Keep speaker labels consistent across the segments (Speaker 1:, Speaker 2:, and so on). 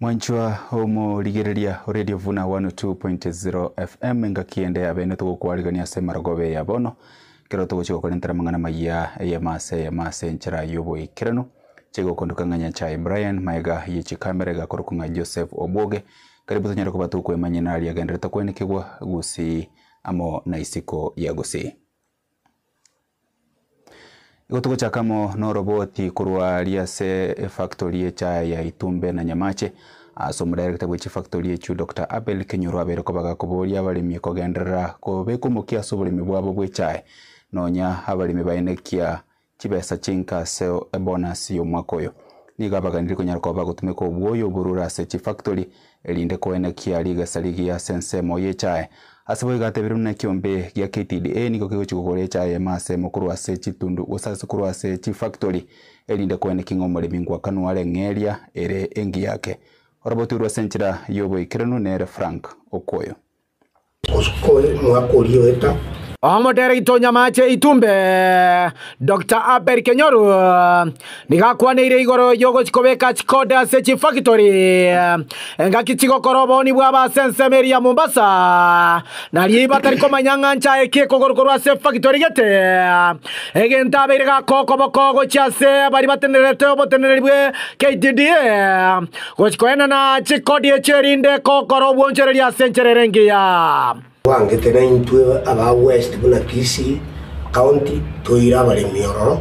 Speaker 1: Mwanchwa omorigereria o Radio Vuna 102.0 FM engaki ende ya bene togokwarigania ase marogobe ya bono ekero togochia gokorentera amang'ana maya eyemo ase eyemo ase enchera y'oboikeranu chigokondoka ng'a Nyanchae Brian maega ye chikamera iga korokwa ng'a Joseph Obwoge karibu tonyare koba tokwemanyia nari agenderete koenekigwa gusii amo na isiko ya gusii. Igo togochaka amo noroboti korwa aria ase efactory y'echae ya Itumbe na Nyamache. Ase omodaerekita bwe chifactory echio Doctor Abel Kenyoro abeire kobaga koboria abaremi kogenderera kobeka omokia ase oboremi bwabo bw'echae nonya abaremi baenekia chibesa chinka ase ebonasi y'omwaka oyo, nigo abaganire konyara koba agotumeka obwoyo oborure ase chifactori, erinde koenekia rigesa rigiya ase ensemo y'echae. Ase boigo atebire buna ekiombe gia KTDA nigo kegochia kogora echae ime asemo korwa ase chitundu gose ase korwa ase chifactori, erinde koenekia ng'a omoremi ngwakanu are ng'a eria ere engiya yake. Oroboti orwo ase enchera y'oboikeranu nere Frank Okwoyo. omwaka oria oeta. Omoderegita o Nyamache Itumbe, Doctor Abel Kenyoru, nigo akwaneire igoro y'ogochia kobeka chikode ase chifactory engaki chigokora obooni bwabo ase ensemo eria ya Mombasa. Nariii batari komanya ng'a nchae ki ekogoro korwa ase efactory gete, egento abeire gakoa okoboko gochia ase baria batenerete obotenereri bwe KTDA Gochi koenana chikodi echio erinde gokora obwonchoreria ase enchera ere engiya. Twangete naintwe aba West buna Kisii County toire abaremi ororo,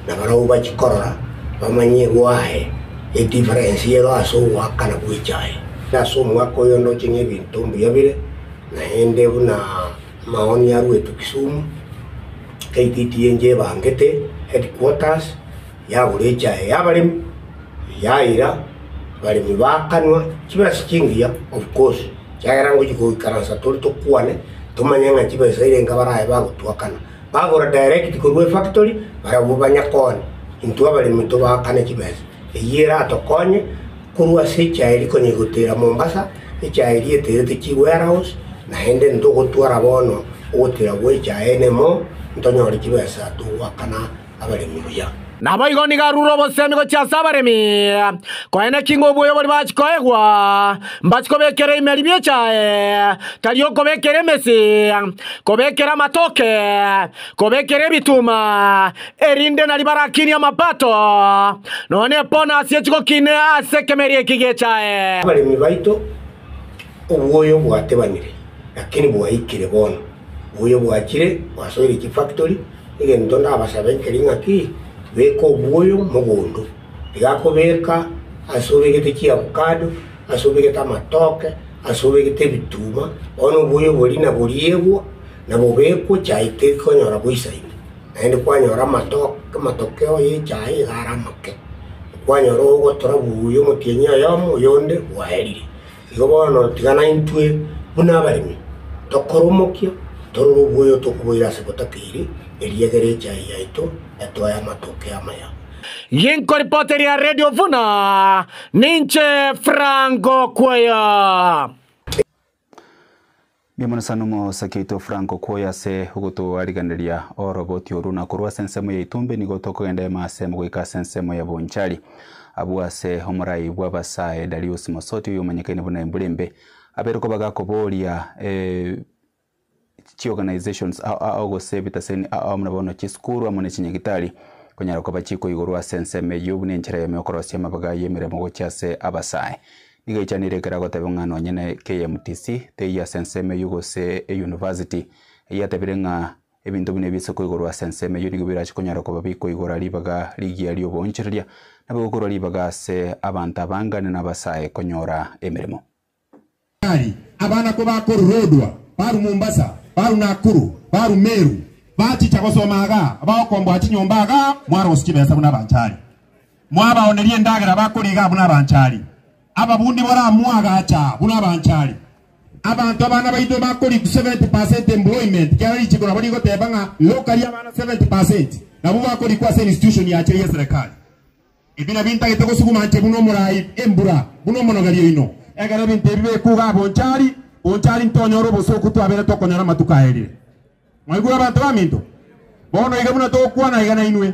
Speaker 1: na barabwo bachikorora bamanye gwaye e difference yero ase ogoaka na gwecha aye. Na ase omwaka oyo ndoche nebinto mbuya bire, naende buna amaoni aruetwe Kisumu, KTDA enche ebangete headquarters, yagora echaye y'abaremi, yaira abaremi bakanwa chibesa chingiya obukosi, ekiagera ngochia goikaransa tore tokwane, tomanye ng'a chibesa eire enka baraye bagotwakana. Bagora direct korwa efactory, barabwo banya konya intwe abaremi tobakane chibesa. Eyio eratokonye korwa ase echaye eria konya egotera Mombasa, echaye eria eterete chiwarehouse, naende ntogotwara bono ogotera gwa echaye enemo, ntonyore chibesa togwakana. abaremi buya. Naboigo nigo arure obosemi gochia ase abaremi, koene ki ng'o obwoyo bori bachi koegwa, mbachi kobekera emeribia echaye, tari okobekera emesi, kobekera amatoke, kobekera ebituma, erinde nari barakinie amapato, nonye ebonasi echigokine ase ekemeria eki gechaye. Abaremi baito, obwoyo bwatebanire, lakini bwaikire bono, obwoyo bwachire bwasoire chifakitori, Egento ndabasabe nkeri ng'a ki, beka obwoyo mogondo. Iga kobeka ase obegete chiavocado, ase obegete amatoke, ase obegete ebituma, bono obwoyo boria naboriegwe, na bobekwe chai tekonyora goisaina. Naende kwanyora amato- amatokeo ye chai iga are amake. Kwanyora ogotora buya omotienyi oyomo, oyonde bwaerire. Igo bono tiga naintwe buna abaremi tokore omokia, torore oboyo tokoboira ase gotakeiri, erio egere echaye yaito etoe amatoke amaya. Ginkoripoti ria Radio Vuna, ninche Frank Okweya. Mbuya mono sana omosake oito Franco kwoye ase ogotwariganeria oroboti oru na korwa ase ensemo ya Itumbi nigo tokogenda ime asemo goika ase ensemo ya Bonchari. Abwo ase omorai bw'abasae Dariusi Mosoti oyomanyekaine buna Embura Embe abeire kobaga koboria chi organisations aa gose ebitaseni aa buna bono chisukuru amo ne chinyagitari konyara koba chikoigorwa ase ensemo eyio buna enchera yamo yokorosia amabaga y'emeremo gochia ase abasae. Nigo eichanire ekero agoteba ng'a nonye ne KMTC teiyo ase ensemo eyio gose eyunivasiti, eyio atebire ng'a ebinto buna ebi ase koigorwa ase ensemo eyio nigo birache konyara koba bikoigora ribaga rigiya ri'oboonchoreria, nabo egokorwa ribaga ase abanto abangane n'abasae konyora emeremo. Tari abana ko bakoru Lodwar, baru Mombasa, baru Nakuru, baru Meru, bachicha gosoma agaa, abagokomboa chinyomba agaa, mwarosie chibesa buna abanchari. Mwabaonerie endagera bakoriga abwo nabanchari, ababundi baramwagacha abwo nabanchari. Abanto abana baito bakoriku 70 percent employment kiara richiko nabo rigoteba ng'a lokari abana 70 percent nabwo bakorikwa ase institution yache ye serikali. Ebi nabio intagete gosuguma inche buna omorai embura buna omonogeri oino. Ekero ebinto ebi bikugaa bonchari, bonchari ntonyora obosooku twabere tokonyora amatuko aerire. Mwaigure abanto baminto? Bono iga buna togokwana iga nainwe.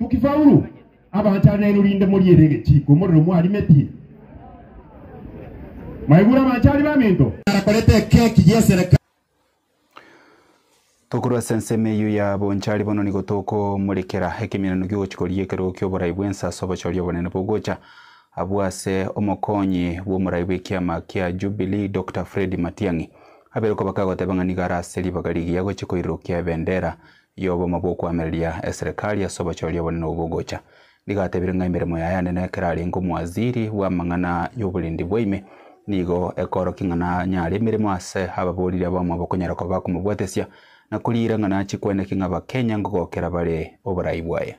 Speaker 1: Nki Paulo abanchara naino rinde moriere egechiko omorero mwarimetie? Mwaigure abanchari baminto? Narakorete ekeki y'esereka. Tokorwa ase ensemo eyio ya bonchari bono nigo tokomorekera ekeminano ki'ogochikoria ekerogo ki'oborai bw'ense ase obochori obonene bogocha abwo ase omokonyi bw'omorai bw'ekiama kia Jubilee Doctor Fred Matiang'i abere koba kagoteba ng'a nigo ara ase ribaga rigiya gochia koirokia ebendera y'oboma bw'okoamereria eserekari ase obochoria obonene obwo bogocha. Ndigatebire ng'a emeremo yaye anene ekerarenge omwaziri bw'amang'ana y'oborendi bwa ime, nigo ekoorokia ng'a nanyare emeremo ase ababoriri abamo bakonyara koba bakomobwetesia, na koriira ng'a nachie kwenekia ng'a Abakenya ngogokera bare oborai bwaye.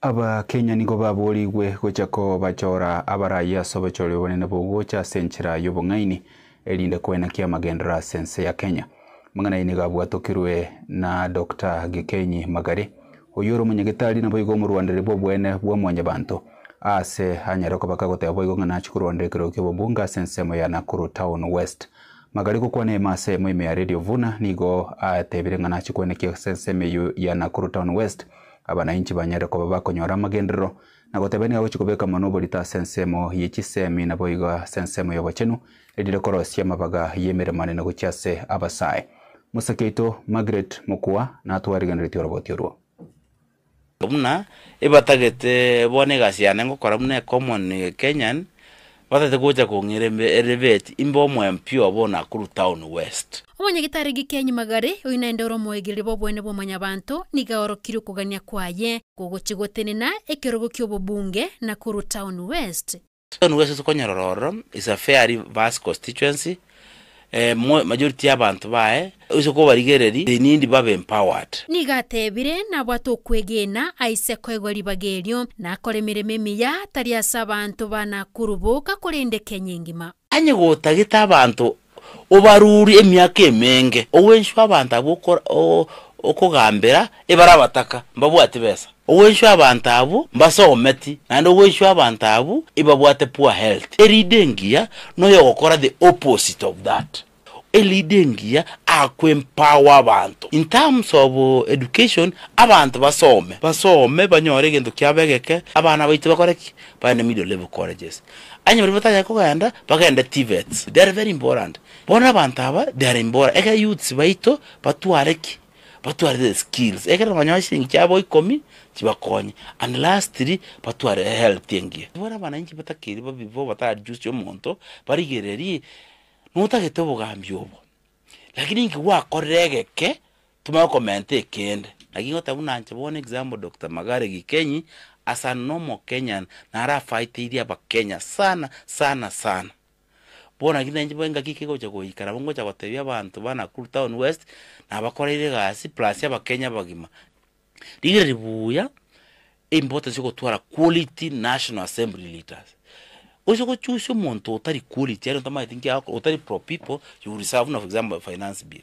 Speaker 1: Abakenya nigo baboorigwe gocha kobachora abaraiyo ase obochore obonene bw'ogocha ase enchera y'obong'aini erinde koinakia amagenderero ase ense ya Kenya. Amang'ana ayio nigo abwatokirwe na Doctor Gĩkenyi Magari, oyio ore omonyagetari naboigo omorwandereri bw'oboene bwa mwanyabanto, aase anyare kobaka goteba boigo ng'a nachia korwanera ekerogo ki'obobunge ase ensemo ya Nakuru Town West. Magari gokwana ime ase eyemo ime ya Radio Vuna nigo atebire ng'a nachia koinakia ase ensemo eyio ya Nakuru Town West Abananchi banyare koba bakonyora amagenderero na gotebania agochia kobeka amanwa oborito ase ensemo ye chisemi na boigo ase ensemo y'obochenu, eri rikorosia amabaga y'emeremo anene gochia ase abasae. Mosacha oito Margaret Mokua natwarigeneretie oroboti orwo. Buna ebatagete bono egasi yane ngokora buna ecommon Kenyan. Batete gocha kong'ira embe ere Beti imbe omwempio obo Nakuru Town West. Omonyagitari Gikeni Magari, oyio naende ore omoegereri bw'obweene bwa Omonyabaanto, nigo aorokirie okogania kwaye kogochia gotenena ekerogo ki'obobunge Nakuru Town West. Town West tokonyorora ororo is a fairly vast constituency. majority y'abanto baye, ase okobarigereria they need babe empowered. Nigo ateebire, Nabwate okwegena aise koegwa ribaga erio, na akore emeremo emiya, tari ase abanto ba Nakuru boka, korende Kenya engima. Onye gotagete abanto obarurie emiaka emenge, ogwenswa abanto abwo okogambera ebare abataka, mbabwati besa. Ogwenchwa abanto abwo mbase obometi naende ogwenchwa abanto abwo ebabwate poor health. E leader engiya noyo ogokora the opposite of that. E leader engiya ako empower abanto in terms of education abanto basome basome banyore egento kiabo egeke abana baito bakore ki? Bagende middle level colleges. Onye baria batanyare kogenda bagende TVETs. They are very important. Bono abanto aba they are important ekero youths baito batware ki? batwarire skills ekero banyore chiliingi chiabo ikomi chibakonye and lastly batware ehealth engiya. Buna abananchi batakeri babi ibo batarajusie omonto barigererie notagete obogambi obo lakini inki gwakorire egeke tomanye okomenta ekende naki ngoteba buna inche bono example Doctor Magare Gikenyi as an omokenyan narafaitirie abakenya sana sana sana. Bono naki nainche bo engaki ki egocha goika nabo ngocha gotebia abanto ba Nakuru Town West, na abakoreire egasi plus abakenya abagima, rigire ribuuya importance ya ogotwara quality National Assembly leaders. Gose go choose omonto otari quality yaani otamaeti nki agokora, otari pro people, you will serve buna for example finance bill.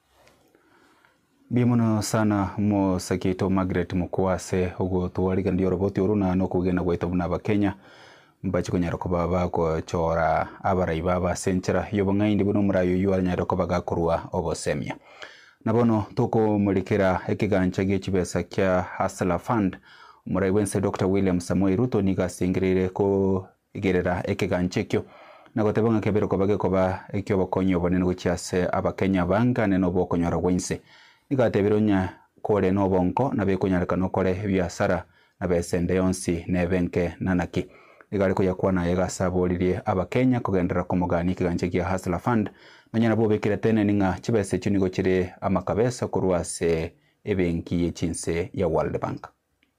Speaker 1: Mbuya mono sana mosake oito Margaret Mokua ase ogotwarigereria oroboti oru na nokogena gwaito buna Abakenya mbache konyara koba bagochora abarai babo ase enchera y'obong'aini buna omorai oyio anyare koba gakorua obosemia. Na bono tokomorekera ekegancha gie chibesa kia Hustler Fund, omorai bwense Doctor William Samoei Ruto nigo asengereire ko Igerera ekegancho ekio, na goteba ng'a kebere koba gekoba eki'obokonyi obonene gochia ase Abakenya baangane nobw'okonyora gw'ense. Nigo atebirie onye kore nobonko na bekonyarekana okore ebiasara na besa ende yonsi nebe enke na naki. Nigo are koyakwana aye iga ase aboririe Abakenya kogenderera komogania ekegancho gia Hustler Fund nonya nabo obekire teneni ng'a chibesa echio nigo chire amakabesa korwa ase ebenki ye chinse ya World Bank.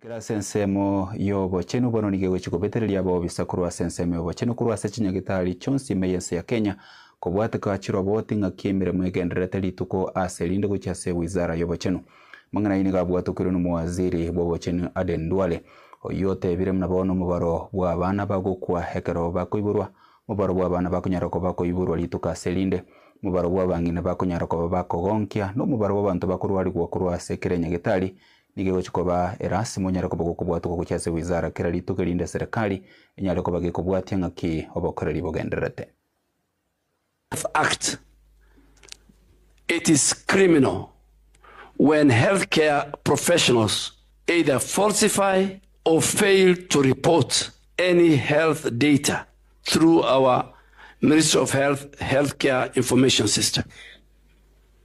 Speaker 1: Korwa ase ensemo y'obochenu bono nigo egochia kobetereria abobisa korwa ase ensemo y'obochenu korwa ase chinyagitari chionsi ime y'ense ya Kenya kobwateka chiroboti ng'aki emeremo egendererete rituko ase erinde gochia ase Wizara y'obochenu. Amang'ana ayio nigo abwatokeirwe n'omowaziri bw'obochenu Aden Duale, oyio otebire buna bono omobaro bw'abana bagokwa ekero bakoiborwa, omobaro bw'abana bakonyara koba koiborwa rituko ase erinde, omobaro bw'abang'ina bakonyara koba bakogonkia, na omobaro bw'abanto bakorwarigwa korwa ase kera enyagitari Nigo egochia koba erasi monyare koba gokobwatwa gochia ase wizara kera rituko erinde serikali enyare koba gekobwatia ng'aki obokoreri bogendererete. Health Act, It is criminal when healthcare professionals either falsify or fail to report any health data through our Ministry of Health Healthcare Information System.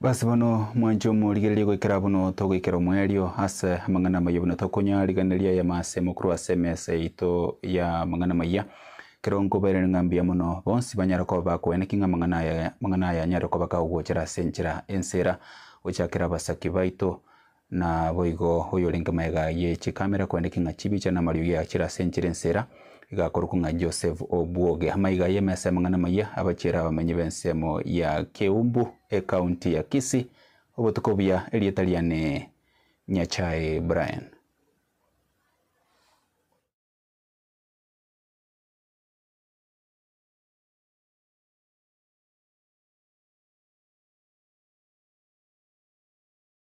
Speaker 1: Basi bono mwanche omorigererie goikera buna togoikera omoerio ase amang'ana amaya buna tokonya riganeria ayamo asemo korwa ase emesa yaito y'amang'ana amaya. Ekero nkobairaneria ng'a mbuya mono, bonsi banyare koba bakoena ki ng'a amang'ana aya amang'ana aya anyare koba kagogochera ase enchera ense era, gochakera abasaki baito, Naboigo oyorenge magega ye chikamera kwende king'a chibicha namariogi agachire ase enchera ensera, igakorokwa ng'a Joseph Obwoge. Amaiga ay'emesa y'amang'ana amayia abachiere abamenyi b'ensemo ya Keumbu, ekaunti ya Kisii, obotuko buya, erieta riane Nyachae Brian.